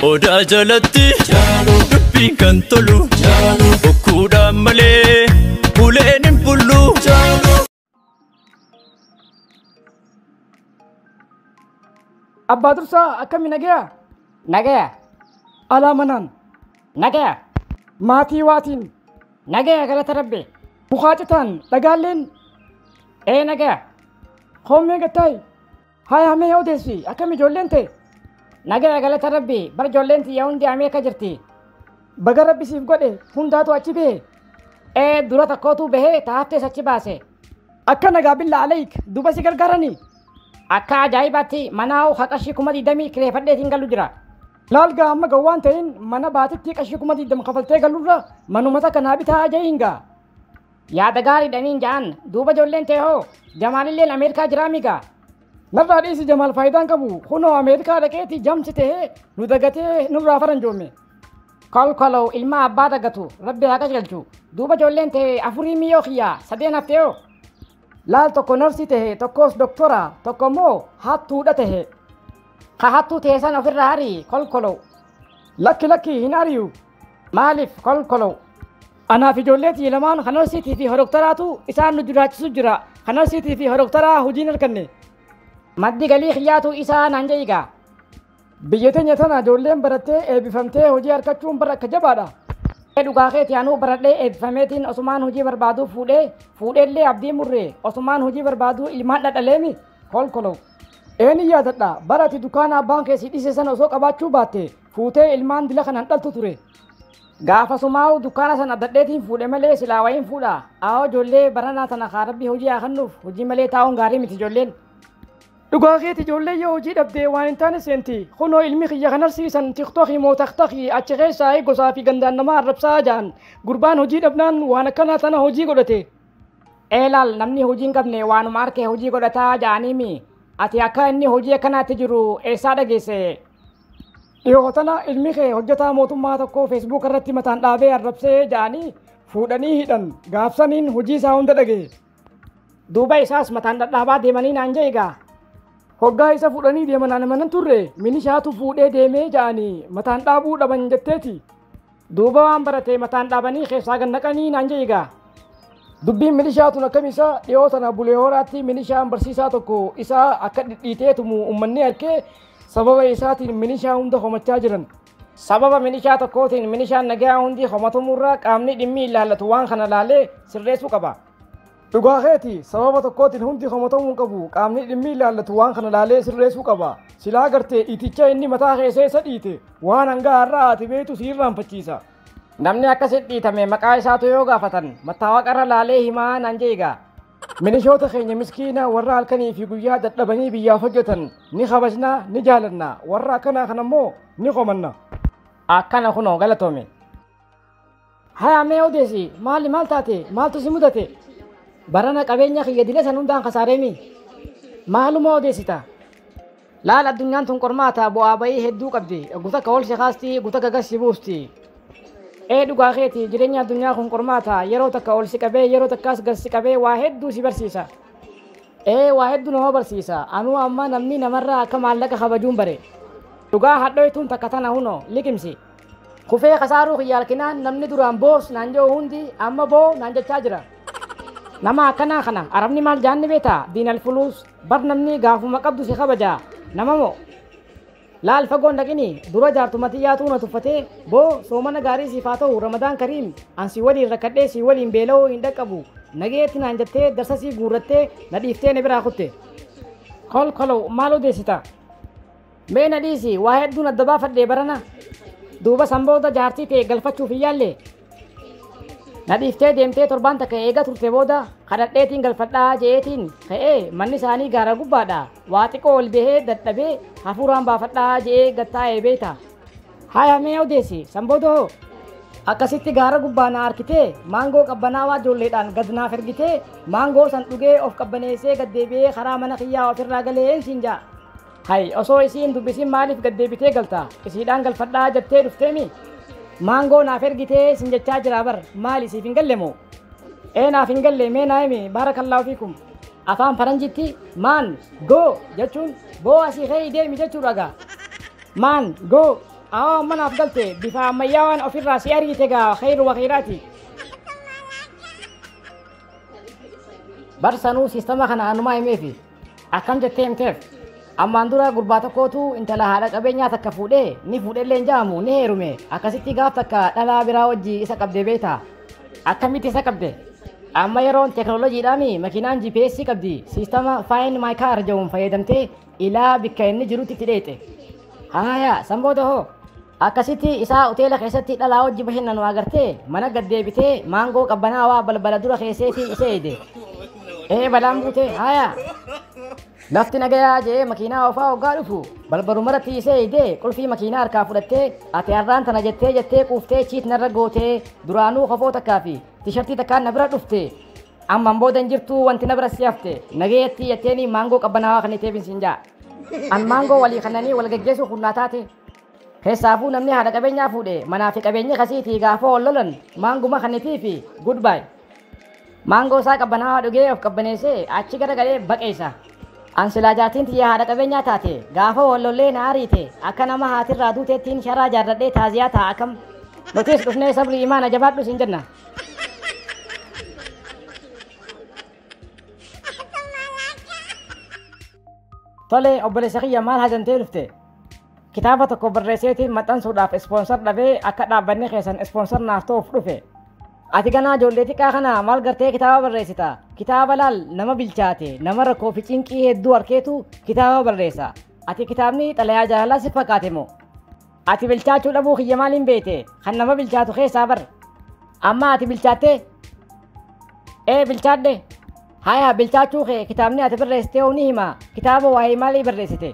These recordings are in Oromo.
Odaa jalatti dubbiin kan tolu bokkuudhaan malee uleen hin bullu. Abbaa dursaa akkami nagaya? Nagaya, Alaa manaan. nagaya, Maatii waatiin. nagaya galata rabbi. Mukaa citaan dhagaalleen Ee nagaya, Hoomee gattaayi. Haaya hammee yaa odeessi akkam ijoolleen tee? Nagaya galata rabbi bar ijoolleen tiyya hundi amee akka jirti. Baga rabbi siif godhe hundaatu achi bahe. Ee dura takkootu bahee taattees achi baase. Akka nagaa billaa aleeyik duba si gargaaranii. Akka ajaa'ibaatti manaa ho'a qarshii kuma digdamii kireeffadheetiin galu jira. Laal gaa amma ga waan ta'in mana baatitti qarshii kuma digdama kafaltee galurra manuma takka naa bitaa aja'iin gaa. Yaada gaarii dha niin ja'an. Duuba ijoolleen tee hoo? Jamaalilleen Ameerikaa jiraamii gaa? Narraa dhiisi Jamaal faayidaan qabu. Kunoo Ameerikaa dhaqeeti jamsi tahee nu dagatee nurraa faranjoomme. Kolkolow ilmaa abbaa dagatu rabbi haa qajeelchu. Duuba ijoolleen tee afurii miyoo kiyyaa sadeen haftee hoo? Laal tokko narsii tahe, tokkos doktora, tokko immoo hattuudha tahe. Ka hattuu tee san ofirraa harii kolkolow. Lakki lakki hin ari'u. Maaliif kolkolow? Anaa fi ijoollee tiyya lamaan kan narsiitii fi horoktaraatu isaan nu jiraachisu jira. Kan narsiitii fi horoktaraa hojii hin arganne. Maddi galii kiyyaatu isaa naan jedhi gaa. Biyya teenya tana ijoolleen barattee eebbifamtee hojii argachuun bara akka jabaadha. Ee dhugaa keeti anuu baradhee eebbifameetiin osumaan hojii barbaaduu fuudhee fuudheellee abdii murree osumaan hojii barbaaduu ilmaan dhadhaleemi kolkolo. Ee ni yaadadha bara ati dukkaana abbaan kee si dhise sana osoo qabaachuu baatte fuutee ilmaan dila kanan dhaltu ture. Gaafasumaa'u dukkaana sana abdadheetiin fuudhe malee silaa wayiin fuudha. Aawoo ijoollee baranaa sana kaa rabbii hojii haa kennuuf hojii malee taa'uun gaarii miti ijoolleen. Dhugaa keeti ijoollee yoo hojii dhabdee waan hin taane seenti. Kunoo ilmi kiyya kan arsiisan tiktokii moo taktakii achi keessaa gosaa fi gandaan namaa arrabsaa ja'an. Gurbaan hojii dhabnaan waan akkanaa tana hojii godhate. Eelaal namni hojii hin qabne waanuma arkee hojii godhataa ja'aniimi. Ati akka inni hojii akkanaatti jiru eessaa dhageesse? Dhihoo tana ilmi kee hojjetaa mootummaa tokko feesbuuka irratti mataan dhaabee arrabsee ja'anii fuudhanii hidhan gaafsaniin hojii isaa hunda dhagahe. Duuba isaas mataan dhadhaabaa deemanii naan ja'e egaa. Hoggaa isa fuudhanii deeman ana manan turre minishaatu fuudhee deemee ja'anii mataan dhaabuu dhaban jetteeti. Duuba waan barate mataan dhaabanii keessaa gad naqanii naan jedhi gaa. Dubbiin milishaa tun akkam isa dhiyoo tana bulee horaatti milishaan barsiisaa tokko isaa akka dhidhiitee tumu uummanni arkee sababa isaatiin milishaa hunda homachaa jiran. Sababa milishaa tokkootiin milishaan nagaa hundi homatumurra qaamni dhimmi ilaallatu waan kana laalee sirreessuu qaba. Dhugaa keeti sababa tokkootiin hundi komatamuu hin qabu qaamni dhimmi ilaallatu waan kana laalee sirreessuu qaba silaa gartee iticha inni mataa kee seessa dhiite waan hangaa har'aa ati beektu si irraanfachiisa. Namni akkasi dhiitame maqaa isaatu yoo gaafatan mattaawaqa irra laalee himaa naan jeegaa. Milishoota keenya miskiina warra halkanii fi guyyaa dadhabanii biyyaaf hojjetan ni kabajna ni jaalanna warra akkanaa kana immoo ni qomanna. Akkana kunoo galatoomi. Haya mee odeesi maali maal taate maaltu si mudate barana qabeenya kiyya dile san hundaan kasaareemi maaluma odeessita laal addunyaan tun qormaata bu'aa ba'ii hedduu qabdi oggu takka ol si kaasti oggu takka gas si buusti ee dhugaa keeti jireenya addunyaa kun qormaata yeroo takka ol si qabee yeroo takkaas gas si qabee waa hedduu si barsiisa ee waa hedduu nama barsiisa anuu amma namni namarraa akka maallaqa kabajuun bare dhugaa hadhoytuun takka tana hunoo liqimsi Kufee kasaaruu kiyya arkinaan namni duraan boos naan je'u hundi amma boo naan jechaa jira. Nama akkanaa kana Arabni maal ja'an ni beektaa? Diinal fuluus. Bar namni gaafuma qabdu si kabaja. Nama moo? Laal fagoo hin dhaqini. Dura jaartuma tiyyaatu na tuffatee, Boo, soomana gaarii siif haa ta'u, Ramadaan Kariim, an si waliin rakkadhee si waliin beela'uu hin dhaqqabu. Nageetti naan jettee darsasii guurrattee na dhiiftee na biraa kutte. Kolkolo, maal odeessita? Mee na dhiisi waa hedduun adda baafadhee barana duuba san booda jaartii tee galfachuuf hin yaalle na dhiiftee deemtee torbaan takka eega turte booda kadhadheetiin galfadhaa je'eetiin ka'ee manni isaanii gaara gubbaadha waa xiqqoo ol bahee dadhabee hafuuraan baafadhaa je'ee gad taa'ee beeyta haya mee odeessi san booda hoo akkasitti gaara gubbaa na arkitee maangoo qabbanaawaa ijoolleedhaan gad naaf ergitee maangoo san dhugee of qabbaneessee gad deebi'ee karaa mana kiyyaa ofirraa galee siin ja'a Hay osoo isii hin dubbisiin maaliif gad deebitee galtaa? Isiidhaan galfadhaa jattee dhufteemi? Maangoo naaf ergitee isin jechaa jiraa bar maali siif hin galle moo? Ee naaf hin galle mee naa himi baarakallaahu fiikum. Afaan faranjitti maan goo jechuun boo asii ka'ii deemi jechuudha gaa. Maan goo awaa amma naaf galte bifa ammayyaawaan ofirraa si argite gaa khayru wakhiraati. Bar sanuu siistama kana anumaa himeefi Akkam jettee himteef? Ammaan dura gurbaa tokkootu intala haadha qabeenyaa takka fuudhee ni fuudhellee hin ja'amu ni heerume akkasitti gaaf takka dhalaa biraa wajji isa qabdee beekta. Akkamitti isa qabde? Amma yeroon teeknooloojiidhaan makiinaan GPS qabdi siistama Find My Car jedhuun fayyadamtee ilaa bikka inni jirutti itti dheeyxe. Haaya san booda hoo? Akkasitti isaa hoteela keessatti dhalaa wajji bashannanu agartee mana gad deebitee maangoo qabbanaawaa balbala dura keesseetii isa eeyde. Ee balaan buute haayaa. Lafti nagayaa je'ee makiinaa ofaa hoggaa dhufu balbalumarratti isa eeyde qulfii makiinaa harkaa fudhattee ati har'aan tana jettee jettee quuftee chiit narra gootee duraanuu kofoo takkaa fi tishartii takkaan na bira dhufte amman booda hin jirtuu wanti na bira si hafte nagayatti jetteenii maangoo qabbanaawaa kan iteefin siin ja'a. An maangoo walii kannanii wal geggeessuu kunnaa taate Keessaafuu namni haadha qabeenyaa fuudhe manaa fi qabeenyi kasiitii gaafa wal lolan maanguma kannitii fi good bye. Maangoo isaa qabbanaawaa dhugee of qabbaneessee achi gara galee baqeessa. An silaa jaartiin tiyya haadha qabeenyaa taate gaafa wal lollee na ariite akka nama haatirraa duuteettiin sharaa jaarradhee taaziyaa ta'a akkam. Nutis dhufnee sabrii imaana jabaadhu siin jenna. Tole obboleessa kiyya maal hajantee dhufte? Kitaaba tokko barreesseetiin maxxansuudhaaf ispoonsar dhabee akka dhaabbanni keessan ispoonsar naaf ta'uuf dhufe. Ati ganaa ijoollee xiqqaa kana maal gartee kitaaba barreessita? Kitaaba laal nama bilchaate, nama rakkoo fi cinqii hedduu harkeetu kitaaba barreessa. Ati kitaabni xalayaa jaalalaa si fakkaate moo? Ati bilchaachuu dhabuu kiyya maaliin beekte? Kan nama bilchaatu keessaa bar. Amma ati bilchaattee? Ee bilchaadhe. Haya bilchaachuu kee kitaabni ati barreessitee hoo ni hima. Kitaaba waa'ee maalii barreessite?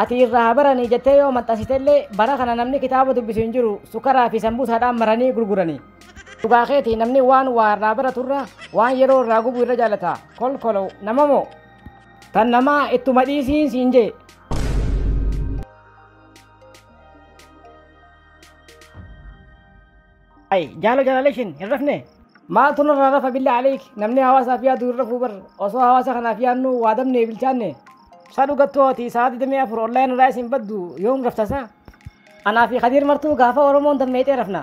Ati irraa haa baranii jettee yoo maxxansitellee bara kana namni kitaaba dubbisu hin jiru sukaraa fi sambuusaadhaan maranii gurguranii. Dhugaa keeti namni waan waa irraa baraturra waan yeroo irraa gubu irra jaalata kolkolo nama moo. Tan namaa ittuma dhiisiin siin jee. Ay, jaala jalalee ishiin hin rafne. Maaltu narraa rafa billa aleek namni hawaasaaf yaadu hin rafuu bar osoo hawaasa kanaaf yaadnu waa dabne bilchaanne. Sa dhugattuu ati sa'a 24 online irraa isin baddu yoom rafta sa? Anaa fi Kadiir martuu gaafa Oromoon dammeexee rafna.